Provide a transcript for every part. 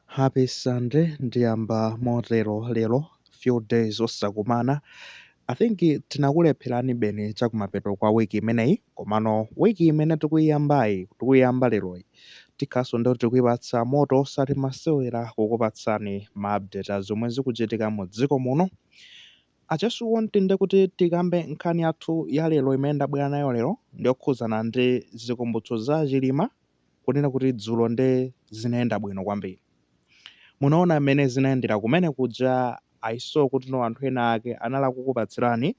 Happy Sunday, ndiyamba motero lero, few days osakumana, I think tinakulepherani beni chakumapeto kwa week imeneyi, komano week imene tikuyiyambayi, tikuyiyamba leroyi, tikhalanso ndekuti tikuyipatsa moto osati masewera kukupatsani ma update a zomwe zikuchitika mu dziko muno, I just want ndekuti tikambe nkhani yathu ya lero imene ndabwera nayo lero, ndiyokhudzana ndi zikumbutso za Chilima, kunena kuti dzulo nde zinayenda bwino kwambiri. Munaona mmene zinayendera kumene kuja, I saw kuti no anthu ena ake anali akukupatsirani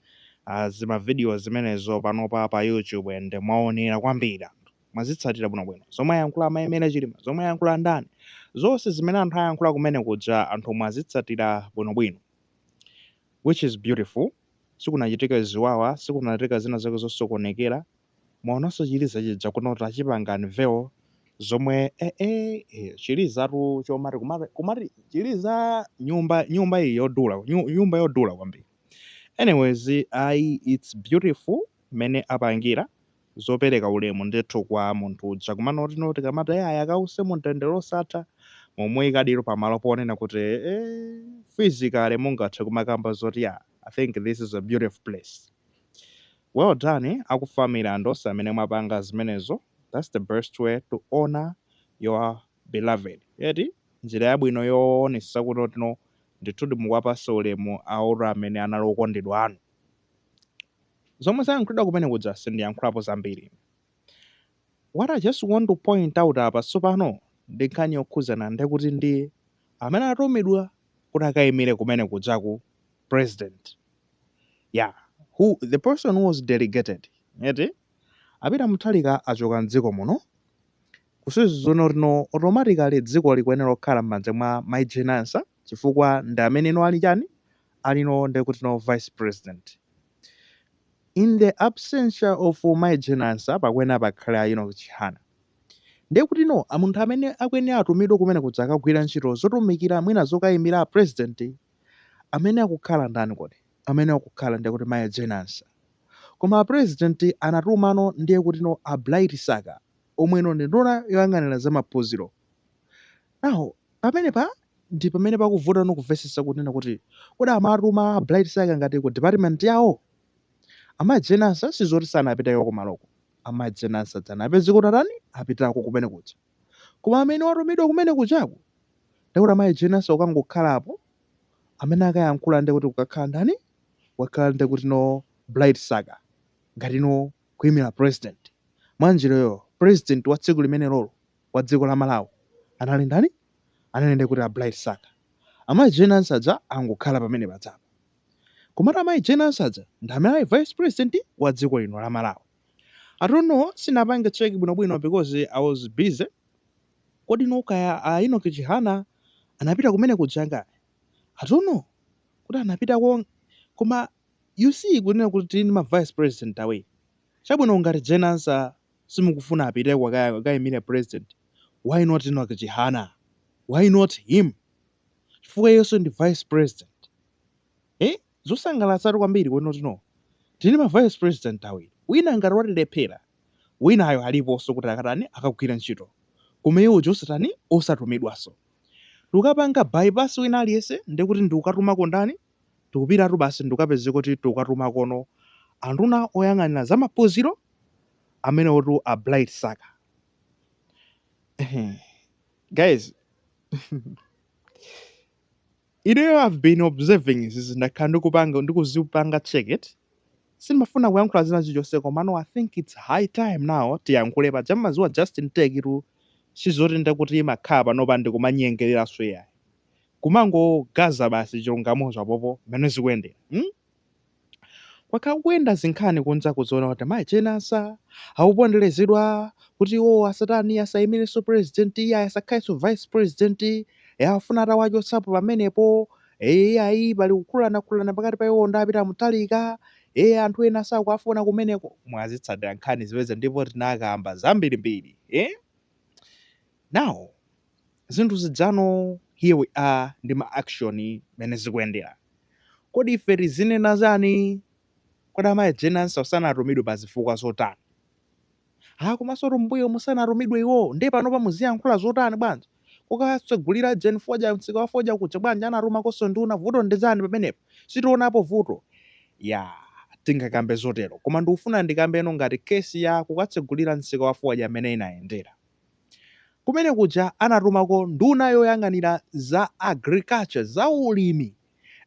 uh, zima video zimenezo panopa pa YouTube and mwaonera kwambiri anthu. Mwazitsatira bwinobwino. Zomwe ayankhula amayi Mary Chilima, zomwe ayankhula ndani, zonse zimene anthu ayankhula kumene kuja anthu mwazitsatira bwinobwino which is beautiful. Sikunachitika ziwawa, sikunachitika zina zake zosokonekera. Mwaonanso chiliza chija kunoti achipanga unveil zomwe eh eh eh chilizatu chomati kumati kumati chiliza nyumba nyumba iyi yodula nyu- nyumba yodula kwambiri. Anyways ayi it's beautiful mmene apangira zopereka ulemu ndithu kwa munthu uja kumanoti no tikamati eh ayi akause mumtendere osatha mwamuyikadi pamalo ponena kuti eh physically mungathe kumakamba zoti yeah I think this is a beautiful place. Well done aku family and onse amene mwapanga zimenezo that's the best way to honour your beloved eti njira yabwino yowonesesa kuti no ndithudi mukuwapasa ulemu awo amene anali okondedwa anu. Zomwe zayankhulidwa kumene kuja sindiyankhulapo zambiri ine. What I just want to point out apa tsopano ndi nkhani yokhuzana ndekuti ndi amene anatumidwa kuti akaimire kumene kujaku president yeah who the person who was delegated eti a Peter Mutharika achoka mdziko muno kusonyeza kuti no automatically dziko likuyenera lokhala m'manja mwa mayi Jane Ansah chifukwa ndi amene no ali chani alino ndekuti no vice president In the absentia of mayi Jane Ansah pakuyenera pakhale a Enoch Chihana. Ndiye kuti no munthu amene akuyenera atumidwe kumene kuja akagwire ntchito zotumikira mwina zokayimira a president amene akukhala ndani kodi? Amene akukhala ndiye kuti mayi Jane Ansah. Koma a president anatumano ndiye kuti no a Bright Msaka omweno ndi nduna yoyang'anira za maphunziro. Now, pamenepa ndi pamene pakuvuta no kumvesesa kunena kuti kodi amatuma Bright Msaka ngati ku department yawo? Amayi Jane Ansah sizoti sanapiteko kumaloko. Amayi Jane Ansah dzana apezeka kuti atani apitako kumene kuja. Koma amene watumidwa kumene kujaku ndekuti amayi Jane Ansah kukangokhala apo amene akayankhula ndekuti kukakhala ndani wakhala ndekuti no Bright Msaka ngati no kuyimila president. Mwanjira iyo president wa tsiku limenelolo wa dziko la Malawi anali ndani? Anali ndiye kuti a Bright Msaka. Amayi Jane Ansah aja angokhala pamene pajapa. Komatu amayi Jane Ansah aja ndi amene ali vice president wa dziko lino la Malawi. I don't know, sinapange check bwinobwino because I was busy. Kodi kaya a Enoch Chihana anapita kumene kuja ngati? I don't know kuti anapitako koma you see kunena kuti tili ndi ma vice president awiri. Chabwino ngati Jane Ansah simukufuna apiteko kaya akaimire president why not Enoch Chihana why not him chifukwa iyenso ndi vice president eh zosangalatsatu kwambiri kunoko tili ma vice president awiri wina ngati watilephera winayo aliponso kuti akatani akagwira ntchito koma iwowo osatani osatumidwanso tikupanga bypass wina aliyense ndiye kuti ndikukatumako ndani Tikupitatu basi ndikapezeka kuti tikukatumakono anduna oyang'anira za maphunziro amenewotu a Bright Msaka. Guys, ineyo I've been observing this ndakhala ndikuzipanga check it. Sindimafuna kuyankhula zina chilichonse komano I think it's high time now tiyankhule paja mmadziwa Justin Tekitu sizoti ndekuti timakhala panopa ndikumanyengereranso iyayi. kumangogaza basi chilungamocho apopo mmene zikuyendera mm? kwakhala kukuyenda zinkhani kunja kuziona kuti mayi Jane Ansah akuponderezedwa kuti iwowo asatani asayimirenso president iyayi asakhalenso vice president e afuna atawachotsapo pamenepo e ayi pali kukhululanakhululana pakati pa iwowo ndi a Peter Mutharika e anthu ena sakuwafuna kumeneko mwazitsatira nkhani zipeze ndipo tinakamba zambirimbiri e now zinthu zijano here we are ndi ma action mmene zikuyendera kodi ife tizinena chani kodi amayi Jane Ansah sanatumidwe pa zifukwa zotani ha komansotu mmbuyomu sanatumidwe iwowo ndiye panopa muziyankhula zotani bwanji kukatsegulira ujeni fodya msika wa fodya kuja bwanji anatumakonso nduna vuto ndi chani pamenepo sitionapo vuto ya tingakambe zotero koma ndikufuna ndikambeno ngati case ya kukatsegulira msika wa fodya mmene inayendera Kumene kuja anatumako nduna yoyang'anira za agriculture, za ulimi,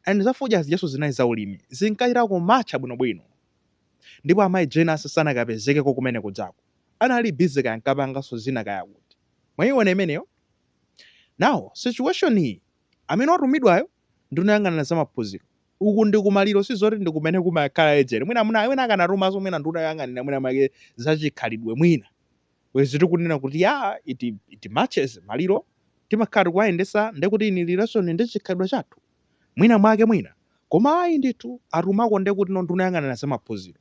and za fodya zijanso zinali za ulimi, zinkachita kumatcha bwinobwino. Ndipo a Mayi Jane Ansah sanakapezekeko kumene kujako. Anali busy kaya ankapanganso zina kaya kuti. Mwaiona imeneyo? Now, situation iyi, amene watumidwayo, nduna yoyang'anira za maphunziro, uku ndi kumaliro si zoti ndi kumene kumakhala agent. Mwina akanatumanso mwina nduna yoyang'anira mwina mwake za chikhalidwe mwina. Bwezi tikunena kuti yaa it it matches maliro timakhala tikuwayendesa ndekuti in relation ndi chikhalidwe chathu mwina mwake mwina koma ayi ndithu atumako ndekuti no nduna yoyang'anira za maphunziro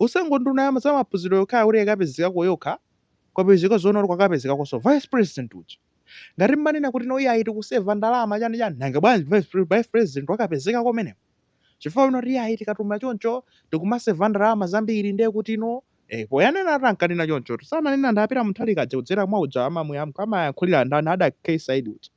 osangoti nduna ya za maphunziro yokhayo kuti ikapezekeko yokha kwapezeka zoona kuti kwakapezekakonso vice president uja ngati mmanena kuti no iyayi tikuseva ndalama chani chani nanga bwanji vice pre- vice president wakapezeka kumeneko chifukwa aona kuti iyayi tikatuma choncho tikumaseva ndalama zambiri ndiye kuti no eh, poyanena ati ankanena chonchotu sananena ndapita muthalika aja kudzera mwa uja amamwe am- amayankhulira ndani a Cathy Saidi uja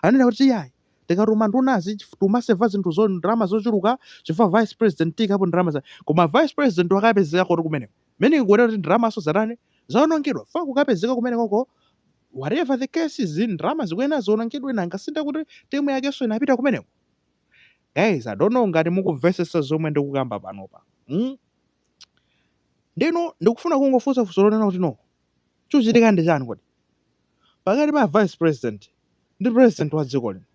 anena kuti iyayi tikatuma ndunazi chif- timaseva zinthu zo ndalama zochuluka chifukwa vice president akapita ndalama za koma vice president wakapezeka kuti kumeneko meaning kunena kuti ndalamaso zatani zaonongedwa fa kukapezeka kumenekoko whatever the case is ndalama zikuyenera ziwonongedwe nanga sinde kuti timu yakenso inapita kumeneko guys i don't know ngati mukumvetsetsa zomwe ndikukamba panopa mm? ndeno ndikufuna kungofunsa funso lonena kuti no chikuchitika ndi chani kodi pakati pa vice president ndi president wa dziko lino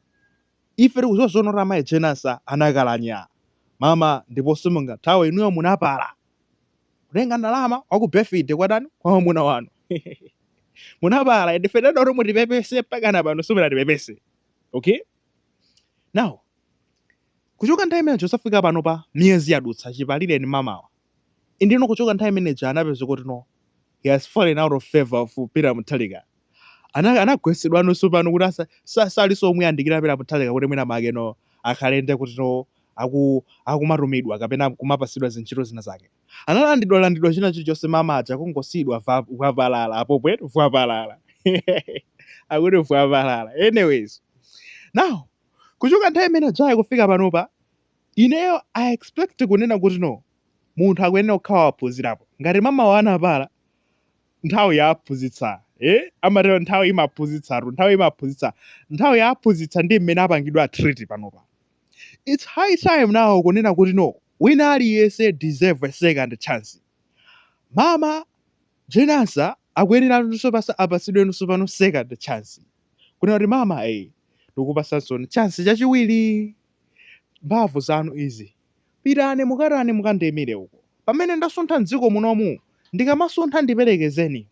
ife tikuziwa zoona kuti amayi Jane Ansah anakalakwa mama ndipo simungathawe inuyo munapala kutenga ndalama za ku birthday kwatani kwa mwamuna wanu munapala ende tinati mutipepese mpakana pano simunatipepese okay Now, kuchoka nthawi imeneyo kuzafika panopa miyezi yadutsa chipalireni mamawa ndeno kuchoka nthawi imeneyo anapeza kuti no he has fallen out of favor of Peter Mutharika ana anagwesedwa nawo pano kuti asa sa- salinso omuyandikira Peter Mutharika kuti mwina make no akhale ndekuti no aku akumatumidwa kapena kumapasidwa zintchito zina zake analandidwa landidwa china chilichonse mama aja kungosiyidwa va- vwapalala apo pwetu vwapalala akuti vwapalala anyways now kuchoka nthawi imene ija kufika panopa ineyo i expect kunena kuti no munthu akuyenera kukhala waphunzirapo ngati mamawo anapala nthawi yaphunzitsa eh? amatero nthawi imaphunzitsatu nthawi imaphunzitsa nthawi yaphunzitsa ndi mmene apangidwa treat panopa its high time now kunena kuti no Wina aliyese deserve a second chance mama Jane Ansah akuyenera nanuso pasa apasidwenuso pano second chance kunena kuti mama ee tikukupasansoni chance chachiwili mbavu zanu izi pitani mukatani mukandiimile uko pamene ndasuntha mdziko munomu ndikamasuntha ndipelekezeni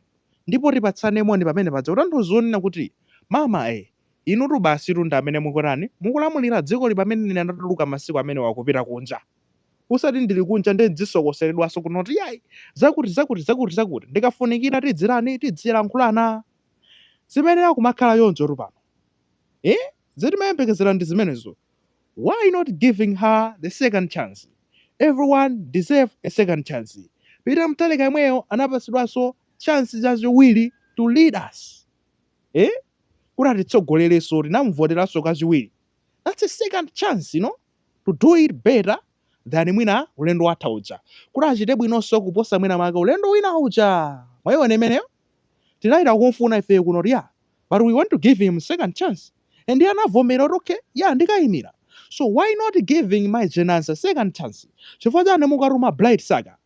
ndipo tipatsane moni pamene paja kutanthauza kunena kuti mama ee Inutu basitu ndi amene mukutani, mukulamulira dzikoli pamene ine ndatuluka masiku amenewa kupita kunja. Usati ndili kunja ndiye n'dzisokoseledwanso kuno kuti iyayi, zakuti, zakuti, zakuti, zakuti. Ndikafunikira tidzitani? Tidzilankhulana. Zimayenera kumakhala chonchotu pano. Eeh? Zoti timayembekezera ndi zimenezo. Why not giving her the second chance? Everyone deserve a second chance. Peter Mutharika yemweyo anapatsidwanso chance chachiwiri to lead us. eh kuti atitsogolerenso tinamuvoteranso kachiwiri that's a second chance you know to do it better than mwina ulendo watha uja kuti achite bwinonso kuposa mwina make ulendo wina uja mwaiona imeneyo tinayita kumfuna ifeyo kuno kuti ya but we want to give him second chance and iye anavomera kuti okay ya ndikayimira so why not giving mayi Jane Ansah second chance chifukwa chani mukatuma Bright Msaka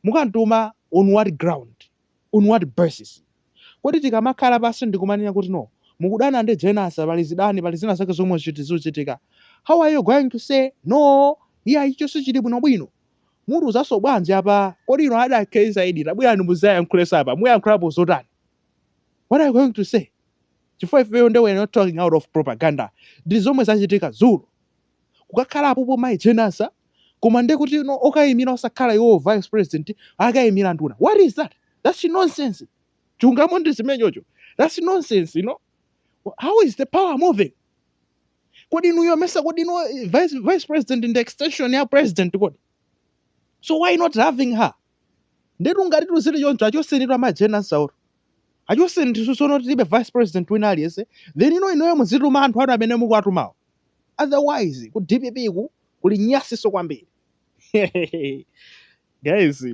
mukamtuma on what ground On what basis? Kodi tikamakhala pansi ndikumanena kuti no mukudana ndi Jane Ansah pali zidani pali zina zake zomwe ziti zuchitika how are you going to say no iyayi chilichonse chili bwino bwino? Mutiuzanso bwanji apa kodi inu ada KZyD tabwerani muzayankhulenso apa muyankhulapo zotani what are you going to say chifukwa ifeyo nde we are not talking out of propaganda ndi zomwe zachitika dzulo. kukakhala apopo mayi Jane Ansah koma nde kuti no okayimira osakhala iwowo vice president akayimira nduna what is that that's nonsense chilungamo ndi chimenecho that's nonsense you know how is the power moving kodi inuyo mesa kodi no vice, vice president ndi extension ya president kodi so why not having her ndetu ngati zinthu zili choncho achoseni tu mayi Jane Ansah olo achoseni tisusono tilibe vice president wina aliyense then inu inuyo muzituma anthu anu amene mukuwatumawo otherwise ku dpp ku kuli nyasiso kwambiri guys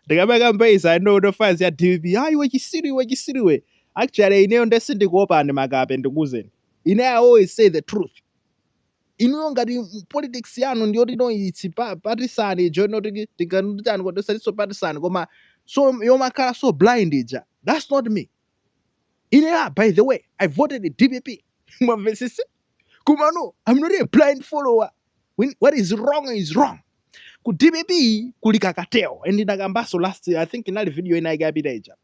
ndikamakamba izi i know ma fans ya dpp ah iwe chisiru iwe chisiru iwe actually ineyo nde sindikuopani makape ndikuuzeni ine i always say the truth inuyo ngati m- politics yanu ndiyoti no it's pa- partisan ija inoti tingatani kodi osati so partisan koma so yomakhala so blind ija that's not me Ine a by the way I voted dpp mwamvetsetsa komano I'm not a blind follower When, what is wrong is wrong ku dpp kuli ka cartel and ndinakambanso last I think inali video ina yake yapita ija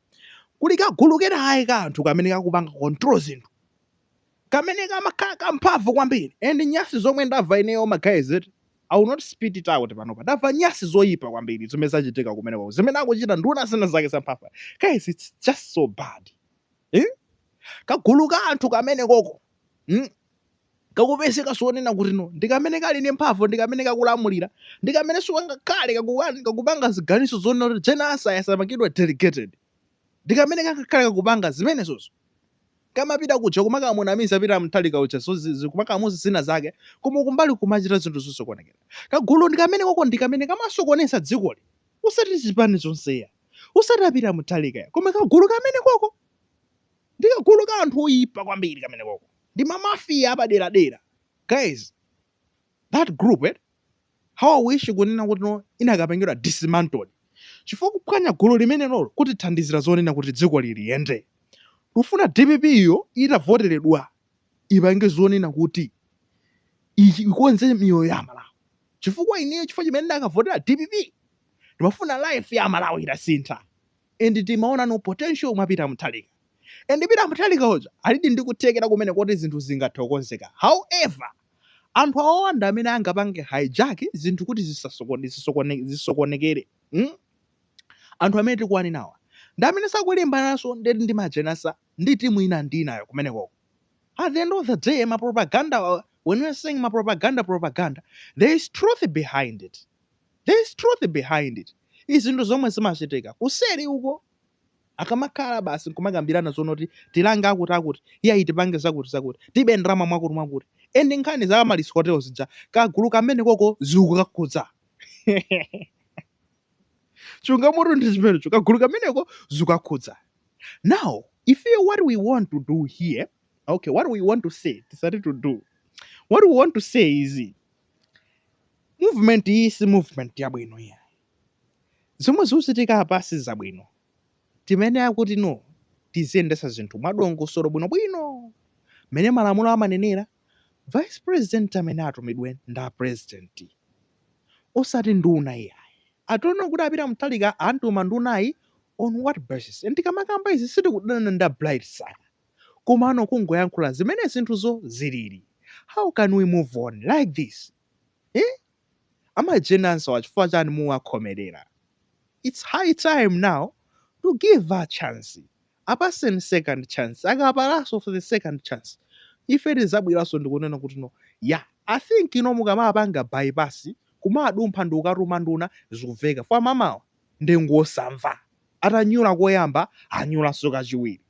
kuli kagulu kena ayi ka anthu kamene kakupanga control zinthu Kamene kamakhala kamphamvu kwambiri and nyasi zomwe ndava ineyo ma guys eti I will not spit it out panopa ndava nyasi zoyipa kwambiri zomwe zachitika kumeneko zimene akuchita nduna zina zake zamphamvu guys it's just so bad eh? kagulu ka anthu kamene koko mm? kakupezeka zonena kuti no ndikamene kali ndi mphamvu ndikamene kakulamulira ndikamene sikangakhale kakuwa- kakupanga ziganizo zonena kuti Jane Ansah asamapangidwe delegated ndikamene kakakhala kakupanga zimenezozo kamapita kuja kumakamunamiza Peter Mutharika uja so zi- kumakamuuza zina zake koma kumbali kumachita zinthu zosokonekera kagulu ndi kamene koko ndi kamene kamasokoneza dzikoli usati chipani chonse ya usati a Peter Mutharika ya koma kagulu kamene koko ndi kagulu ka anthu oyipa kwambiri kamene koko ndi mamafiya apaderadera guys that group eh, How i wish kunena kuti no inakapangidwa dismantled chifukwa kuphwanya gulu limenelolo kutithandiza zonena kuti dzikoli liyende? Tikufuna dpp yo itavoteredwa ipange zonena kuti ikonze miyoyo ya amalawi chifukwa ineyo chifukwa chimene ndakavotera dpp ndimafuna life ya amalawi itasintha and timaona no potential mwa peter mutharika and peter mutharika uja alidi ndi kuthekera kumene kuti zinthu zingathe kukozeka however Anthu awawa ndi amene angapange hijack zinthu kuti zisasokone, zisokone, zisokonekere. Hmm? Anthu amene tikuwanenawa ndi amene akulimbananso ndi ndi mai Jane Ansah ndi timu ina ndi inayo kumenekoko. At the end of the day, ma propaganda awa, when we are saying ma propaganda propaganda, there is truth behind it. There is truth behind it. Zinthu zomwe zimachitika kuseri uko. Akamakhala basi nkumakambirana zonoti tilange akuti akuti, iyayi tipange zakuti zakuti, tibe ndalama mwakuti mwakuti. And nkhani za Amaryllis Hotel zija, kagulu kamenekoko zikukakhudza. Chungamotu ndi chimenecho, kagulu kameneko zikukakhudza. Now, ifeyo what we want to do here, okay, what we want to say, tisati to do. What we want to say is, movement iyi si movement yabwino iyayi. Zomwe zikuchitika apa sizabwino. Timayenera kuti no tiziyendetsa zinthu mwadongosolo bwinobwino mmene malamulo amanenera. Vice president amene atumidwe ndi a president osati nduna iyayi. I don't know kuti a Peter Mutharika antuma ndunayi on what basis. And tikamakamba izi sitikudana ndi a Bright sir koma no kungoyankhula zimene zinthuzo zilili. How can we move on like this? Iii. amayi jane ansah awa chifukwa chani mukuwakhomelera? Its high time now to give a chance apatseni second chance akapalaso for the second chance ife tizabwelaso ndikunena kuti no yah I think ino mukamapanga bypass kumadumpha ndikukatuma nduna zikuveka fukwa amayiwa nde ngosamva atanyula koyamba anyulaso kachiwiri.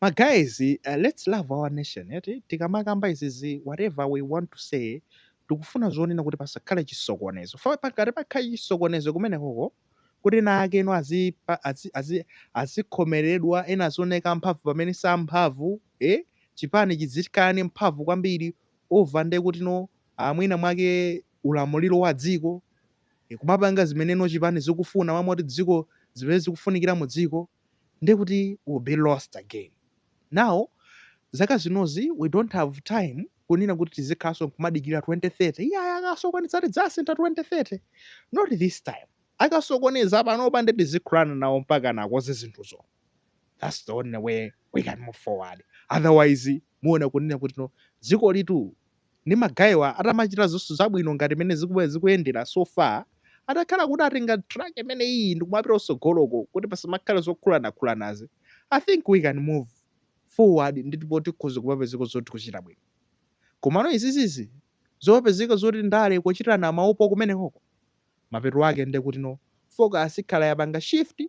Ma guys let's love our nation eti tikamakamba izizi whatever we want to say tikufuna zonena kuti pasakhale chisokonezo pakati pakhale chisokonezo kumenekoko kuti ena ake eno azipa- azi- azi- azikhomeredwa ena azioneka mphamvu pamene si amphamvu eh? chipani chizikhala ndi mphamvu kwambiri over nde kuti no ah, mwina mwake ulamuliro wa dziko eh, kumapanga zimene no chipani zikufuna mmalo moti dziko zimene zikufunikira mu dziko ndiye kuti we'll be lost again. Now zaka zinozi we don't have time kunena kuti tizikhalanso nkumadikira 2030 iyayi akasokoneza tidzasintha 2030 not this time akasokoneza panopa nde tizikhuluzana nawo mpakana akoze zinthuzo that's the only way we can move forward otherwise muona kunena kuti no dzikolitu ndi magayewa atamachita zonse zabwino ngati mmene ziku zikuyendera so far atakhala kuti atenga track imeneyiyi ndikumapita kusogoloko kuti pasamakhale zokhulanakhulanazi I think we can move forward ndipo tikhoza kumapezeka zoti tikuchita bwino komano izizizi zopezeka zoti ndale kuchitirana maupandu kumenekoko mapeto ake nde kuti no focus ikhala yapanga shift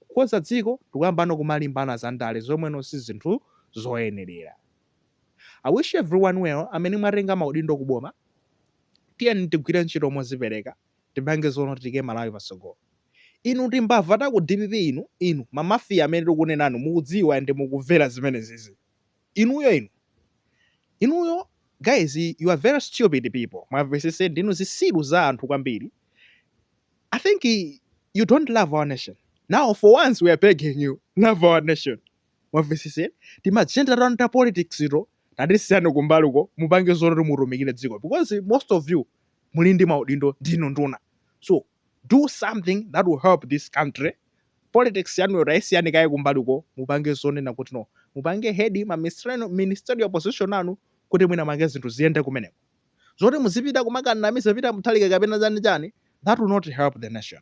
kukonza dziko ndikuyambano kumalimbana zandale zomwe no si zinthu zoyenelera. I wish everyone well amene mwatenga maudindo ku boma tiyeni tigwire ntchito mozipereka tipange zonoti tiyike Malawi patsogolo inu timbava ta ku dpp inu inu ma mafia amene tikunenanu mukudziwa and mukumvera zimenezizi inuyo inu inuyo guys you are very stupid people mwamvetsetsa ndinu zitsiru za anthu kwambiri I think you don't love our nation now for once we are begging you love our nation. mwamvetsetsa tima agenda tanu ta politics ito tatisiyani kumbali uko mupange zoti mutumikire dziko because most of you muli ndi maudindo ndinu nduna so do something that will help this country politics yanuyo tayisiyani kaye kumbali uko mupange zonena kuti no mupange head ma ministerial position anu kuti mwina mwake zinthu ziyende kumeneko zoti muzipita kumakanamiza Peter Mutharika kapena chani chani that will not help the nation